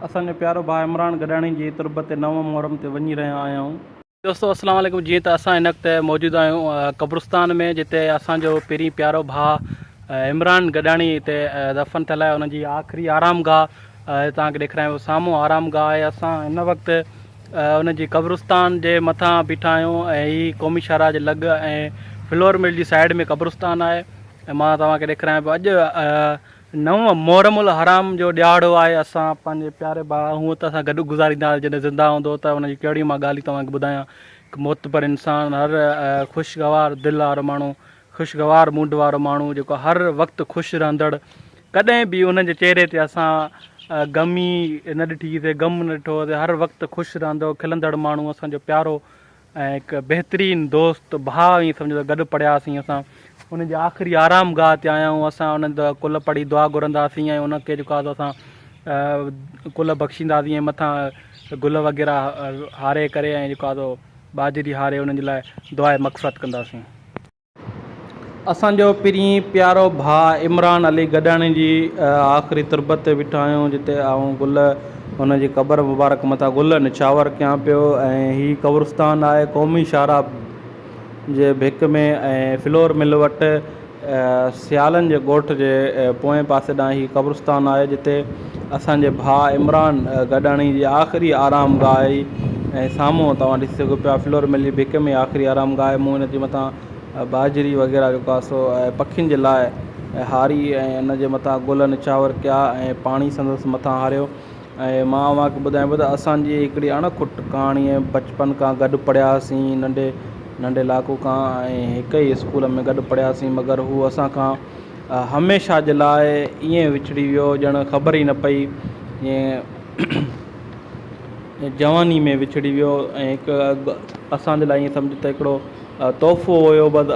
اسان جو پيارو ڀاء عمران گڏاڻي جي تربت تي نو محرم تي وڃي رهيا آهيون. دوستو السلام عليڪم جيئن ته اسان هن وقت موجود آهيون قبرستان ۾ جتي اسان جو پرين پيارو ڀاء عمران گڏاڻي هتي دفن ٿيل آهي ان جي آخري آرام گاهه توهان کي ڏيکرايان پيو سامهون آرام گاهه آهي اسان هن وقت ان جي قبرستان جي مٿان بيٺا آهيون ۽ هي قومي شاهراهه جي لڳ ۽ فلور مل جي سائيڊ ۾ قبرستان آهي مان توهان کي ڏيکرايان پيو اڄ نو محرم الحرام جو ڏهاڙو آهي اسان پنهنجي پياري ڀاء هونء ته اسان گڏ گذاريندا هئاسين جڏهن زنده هوندو هو ته ان جون ڪهڙيون مان ڳالهيون توهان کي ٻڌايان هڪ معتبر انسان هر خوشگوار دل وارو ماڻهو خوشگوار موڊ وارو ماڻهو جيڪو هر وقت خوش رهندڙ ڪڏهن به ان جي چهري تي اسان غم ئي نه ڏٺي سي غم نه ڏٺو هوسي هر وقت خوش رهندو کلندڙ ماڻهو اسان جو پيارو ۽ هڪ بهترين دوست، ڀاء ائين سمجهو ته گڏ پڙهياسين اسان انهن جي آخري آرام گاهه تي آيا آهيون اسان انهن جي ڪلهه پڙهي دعا گهرنداسين ۽ انهن کي جيڪو آهي سو اسان ڪلهه بخشينداسين ۽ مٿان گل وغيره هاري ڪري ۽ جيڪو آهي سو ٻاجهري هاري انهن جي لاء دعائي مغفرت ڪنداسين. اسان جو پرينء پيارو ڀاء عمران علي گڏاڻي جي آخري تربت تي ويٺا آهيون، جتي آئون گل هن جي قبر مبارڪ مٿان گل نڇاور ڪيان پيو ۽ هي قبرستان آهي قومي شاهراهه جي ڀيڪ ۾ ۽ فلور مل وٽ سيالن جي ڳوٺ جي پوئين پاسي ڏانهن هي قبرستان آهي، جتي اسان جي ڀاء عمران گڏاڻي جي آخري آرام گاهه آهي ۽ سامهون توهان ڏسي سگهو پيا فلور ملي بڪ ۾ آخري آرام گاهه آهي مون ان جي مٿان ٻاجهري وغيره جيڪو آهي سو پکين جي لاء هاري ۽ ان جي مٿان گل نڇاور ڪيا ۽ پاڻي سندس مٿان هاريو ۽ مان اوهان کي ٻڌايان پيو ته اسان جي هڪڙي اڻ کٽ ڪهاڻي ۽ بچپن کان گڏ پڙهيا هئاسين ننڍي ننڍي لاکو کان ۽ هڪ ئي اسڪول ۾ گڏ پڙهيا هئاسين مگر هو اسان کان هميشه جي لاء ائين وڇڙي ويو ڄڻ خبر ئي نه پئي ائين جواني ۾ وڇڙي ويو ۽ هڪ اسان جي لاء ائين سمجهه ته هڪڙو تحفو هيو بس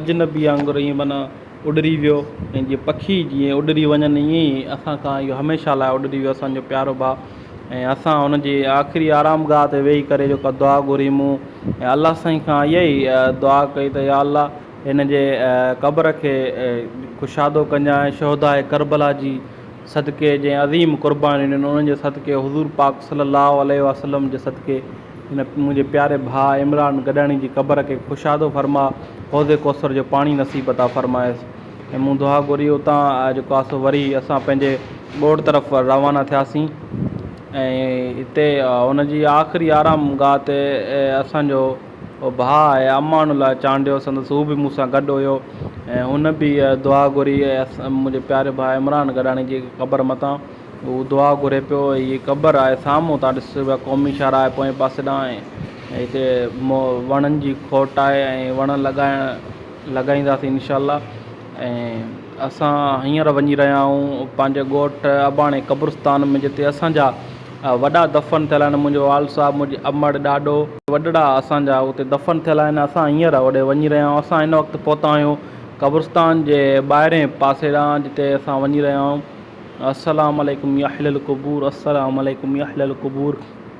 اجنبي وانگر ائين معنيٰ اڏري ويو ۽ جيئن پکي جيئن اڏري وڃن ائين ئي اسان کان اهو هميشه لاء اڏري ويو اسان جو پيارو ڀاء ۽ اسان ان جي آخري آرام گاهه تي ويهي ڪري جيڪا دعا گهري مون ۽ الله سائين کان اها ئي دعا ڪئي ته يا الله هن جي قبر کي ڪشادو ڪنجان شهداء ڪربلا جي صدقي جنهن عظيم قربانيون ڏنيون انهن جي صدقي حضور پاڪ صلي الله عليه وسلم جي صدقي هن منهنجي پياري ڀاء عمران گڏاڻي جي قبر کي ڪشادو فرماء حوض ڪوثر جو پاڻي نصيب عطا فرمايس ۽ مون دعا گهري اتان جيڪو آهي سو وري اسان پنهنجي ڳوٺ طرف روانا ٿياسين ۽ هتي ان جي آخري آرام گاهه تي اسان جو او ڀاء ۽ امان الله چانڊيو سندس هو به مون سان گڏ هيو ۽ هن به دعا گهري ۽ منهنجي پياري ڀاء عمران گڏاڻي جي قبر متان هو دعا گهري پيو ۽ هيء قبر آهي سامهون تان ڏس اها قومي شاهراهه آهي پوئين پاسي ڏانهن ۽ هتي وڻن جي کوٽ آهي ۽ وڻ لڳائڻ لڳائينداسين انشاء الله ۽ اسان هينئر وڃي رهيا آهيون پنهنجي ڳوٺ اباڻي قبرستان ۾ جتي اسانجا وڏا دفن ٿيل آهن منهنجو والد صاحب منهنجي امڙ ڏاڏو وڏڙا اسانجا اتي دفن ٿيل آهن اسان هينئر اوڏي وڃي رهيا آهيون اسان هن وقت پهتا آهيون قبرستان جي ٻاهرين پاسي ڏانهن جتي اسان وڃي رهيا آهيون السلام عليڪم يا اهل القبور السلام عليڪم يا اهل القبور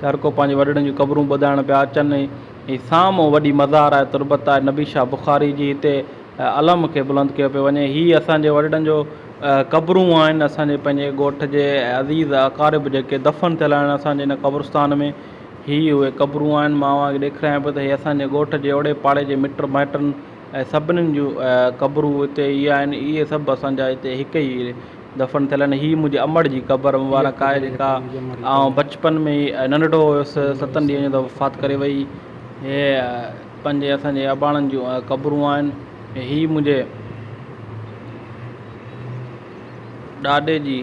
ته هر ڪو پنهنجي وڏڙن جون قبرون ٻڌائڻ پيا اچن ۽ سامهون وڏي مزار آهي تربت آهي نبي شاهه بخاري جي هتي علم کي بلند ڪيو پيو وڃي هي اسان جي وڏڙن جو قبرون آهن اسان جي پنهنجي ڳوٺ جي عزيز اقارب جيڪي دفن ٿيل آهن اسان جي ان قبرستان ۾ هي اهي قبرون آهن مان اوهان کي ڏيکرايان پيو ته هي اسان جي ڳوٺ جي اوڙي پاڙي جي مٽ مائٽن ۽ سڀنن جون قبرون هتي اهي آهن اهي سڀ اسان جا هتي هڪ ئي دفن ٿيل آهن هي منهنجي امڙ جي قبر مبارڪ آهي جيڪا آئون بچپن ۾ ننڍڙو هيس ستن ڏينهن جو وفات ڪري وئي هي پنهنجي اسان جي اباڻن جون قبرون آهن هي منهنجي ڏاڏي جي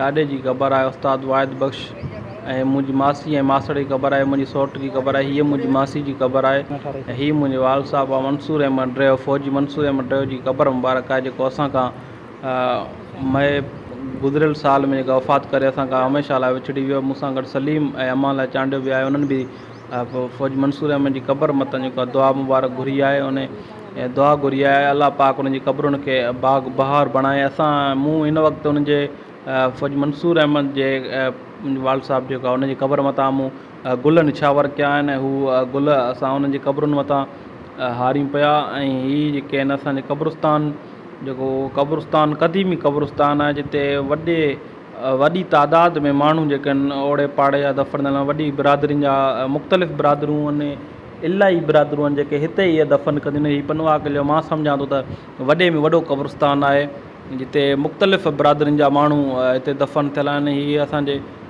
ڏاڏي جي قبر آهي استاد واحد بخش ۽ منهنجي ماسي ۽ ماسڙ جي قبر آهي منهنجي سوٽ جي قبر آهي هي منهنجي ماسي جي قبر آهي ۽ هي منهنجي وال صاحب منصور احمد ڊريو فوجي منصور احمد ڊريو جي قبر مبارڪ آهي جيڪو اسان کان مئي گذريل سال ۾ جيڪا وفات ڪري اسان کان هميشه لاء وڇڙي ويو مون سان گڏ سليم ۽ امان لاء چانڊيو به آهي انهن به فوجي منصور احمد جي قبر مٿان جيڪو آهي دعا مبارڪ گهري آهي انهي دعا گهري آهي الله پاڪ انهن جي قبرن کي باغ بهار بڻائي اسان مون هن وقت انهن جي فوجي منصور احمد جي والد صاحب جيڪو آهي انهن جي قبر متان مون گل نڇاور ڪيا آهن ۽ هو گل اسان انهن جي قبرن مٿان هاريون پيا ۽ هي جيڪي آهن اسان جي قبرستان جيڪو قبرستان قديمي قبرستان آهي جتي وڏي وڏي تعداد ۾ ماڻهو جيڪي آهن اوڙي پاڙي جا دفن ٿيل وڏي برادرين جا مختلف برادرون ۽ الاهي برادرون آهن جيڪي هتي ئي دفن ڪنديون آهن هي پنهوا قلعو مان سمجهان ٿو ته وڏي ۾ وڏو قبرستان آهي جتي مختلف برادرين جا ماڻهو هتي دفن ٿيل آهن هي اسان جي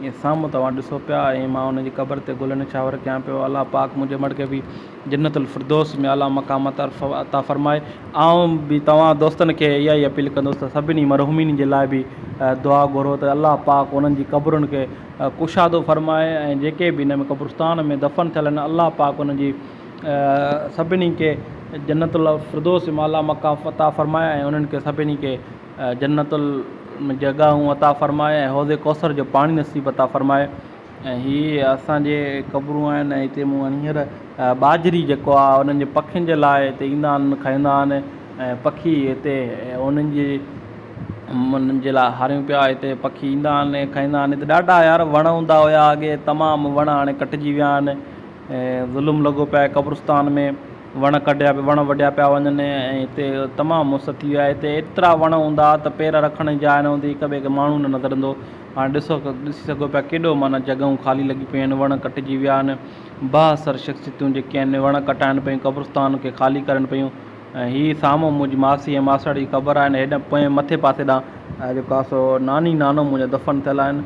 جيئن سامهون توهان ڏسو پيا ائين مان ان جي قبر تي گل نڇاور ڪيان پيو. الله پاڪ منهنجي مڙهه کي به جنت الفردوس ۾ اعليٰ مقام عطا فرمائي. آئون به توهان دوستن کي اها ئي اپيل ڪندس ته سڀني مرحومين جي لاء به دعا گهرو ته الله پاڪ انهن جي قبرن کي ڪشادو فرمائي ۽ جيڪي به ان ۾ قبرستان ۾ دفن ٿيل آهن الله پاڪ انهن جي سڀني کي جنت الفردوس ۾ اعليٰ مقام عطا فرمائي ۽ انهن کي سڀني کي جنت ۾ جڳهون عطا فرماء ۽ حوض ڪوثر جو پاڻي نصيب عطا فرماء ۽ هي اسان جي قبرون آهن ۽ هتي مون وٽ هينئر ٻاجهري جيڪو آهي انهن جي پکين جي لاء هتي ايندا آهن کائيندا آهن ۽ پکي هتي انهن جي انهن جي لاء هاريون پيا هتي پکي ايندا آهن ۽ کائيندا آهن هتي ڏاڍا يار وڻ هوندا هيا اڳي تمام وڻ هاڻي ڪٽجي ويا آهن ظلم لڳو پيو آهي قبرستان ۾ وڻ ڪٽيا پيا وڻ وڍيا پيا وڃن ۽ هتي تمام مس ٿي وئي آهي هتي ايترا وڻ هوندا هئا ته پير رکڻ جي جاء نه هوندي هڪ ٻئي کي ماڻهو نه نظر ايندو هو هاڻي ڏسو ڏسي سگهو پيا ڪيڏو معنيٰ جڳهون خالي لڳي پيون آهن وڻ ڪٽجي ويا آهن با اثر شخصيتون جيڪي آهن وڻ ڪٽائن پيون قبرستان کي خالي ڪرن پيون ۽ هي سامهون منهنجي ماسي ۽ ماسڙ جي قبر آهن هيڏانهن پوئين مٿي پاسي ڏانهن جيڪو آهي سو ناني نانو منهنجا دفن ٿيل آهن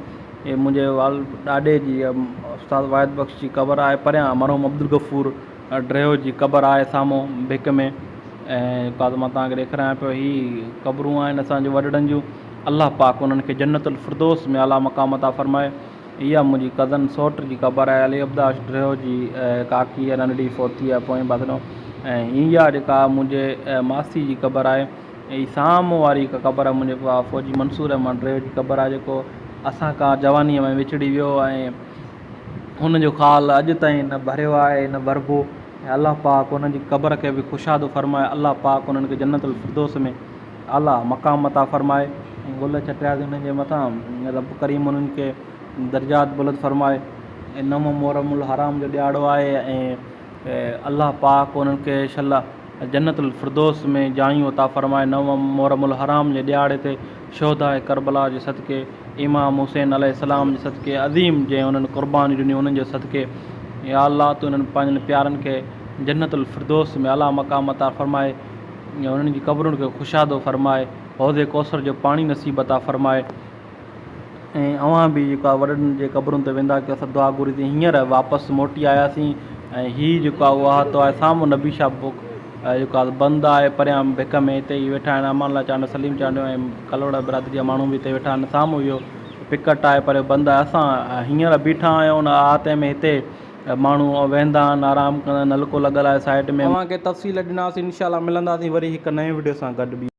هي منهنجي وال ڏاڏي جي استاد واحد بخش جي قبر آهي پريان مرحوم عبدالغفور ڊريو جي قبر آهي سامهون ڀڪ ۾ ۽ ڪا ته مان تهانکي ڏيکرايان پيو هي قبرون آهن اسانجي وڏڙن جون الله پاڪ انهن کي جنت الفردوس ۾ اعليٰ مقام عطا فرمائي اها منهنجي ڪزن سئوٽ جي قبر آهي علي عبداش ڊريو جي ڪاڪي آهي ننڍڙي فوت ٿي آهي پوئين پاسڙو ۽ اها جيڪا منهنجي ماسي جي قبر آهي هي سامهون واري هڪ قبر آهي منهنجي فوجي منصور رحمان ڊريو جي قبر آهي جيڪو اسان کان جوانيء ۾ وڇڙي ويو ۽ هن جو خال اڄ تائين نه ڀريو آهي ۽ نه ڀربو ۽ الله پاڪ انهن جي قبر کي به ڪشادو فرمائي الله پاڪ انهن کي جنت الفردوس ۾ اعليٰ مقام عطا فرمائي ۽ گل چٽيا تي انهن جي مٿان رب ڪريم انهن کي درجات بلند فرمائي ۽ نو محرم الحرام جو ڏيهاڙو آهي ۽ الله پاڪ انهن کي شل جنت الفردوس ۾ جايون عطا فرمائي نوم محرم الحرام جي ڏيهاڙي تي شهداء ڪربلا جي صدقي امام حسين عليه السلام جي صدقي عظيم جنهن انهن قربانيون ڏنيون انهن جي صدقي يا الله تون انهن پنهنجن پيارن کي جنت الفردوس ۾ اعليٰ مقام عطا فرماء انهن جي قبرن کي ڪشادو فرماء حوض ڪوثر جو پاڻي نصيب عطا فرماء. ۽ اوهان به جيڪو آهي وڏن جي قبرن تي ويندا ڪيو سا دعا گهري تي هينئر واپس موٽي آياسين ۽ هي جيڪو آهي اهو احاطو آهي سامهون نبي شاهه بڪ جيڪو آهي بند آهي پريان ڀڪ ۾ هتي ئي ويٺا آهن امان الله چانڊيو سليم چانڊيو ۽ ڪلهوڙا برادري جا ماڻهو به هتي ويٺا آهن سامهون اهو پڪٽ آهي پر بند آهي اسان هينئر بيٺا آهيون ان احاطي ۾ هتي ماڻهو ويهندا آهن آرام ڪندا آهن نلڪو لڳل آهي سائيڊ ۾. اوهان کي تفصيل ڏناسين انشاء الله ملنداسين وري هڪ نئين وڊيو سان گڏ ٻي.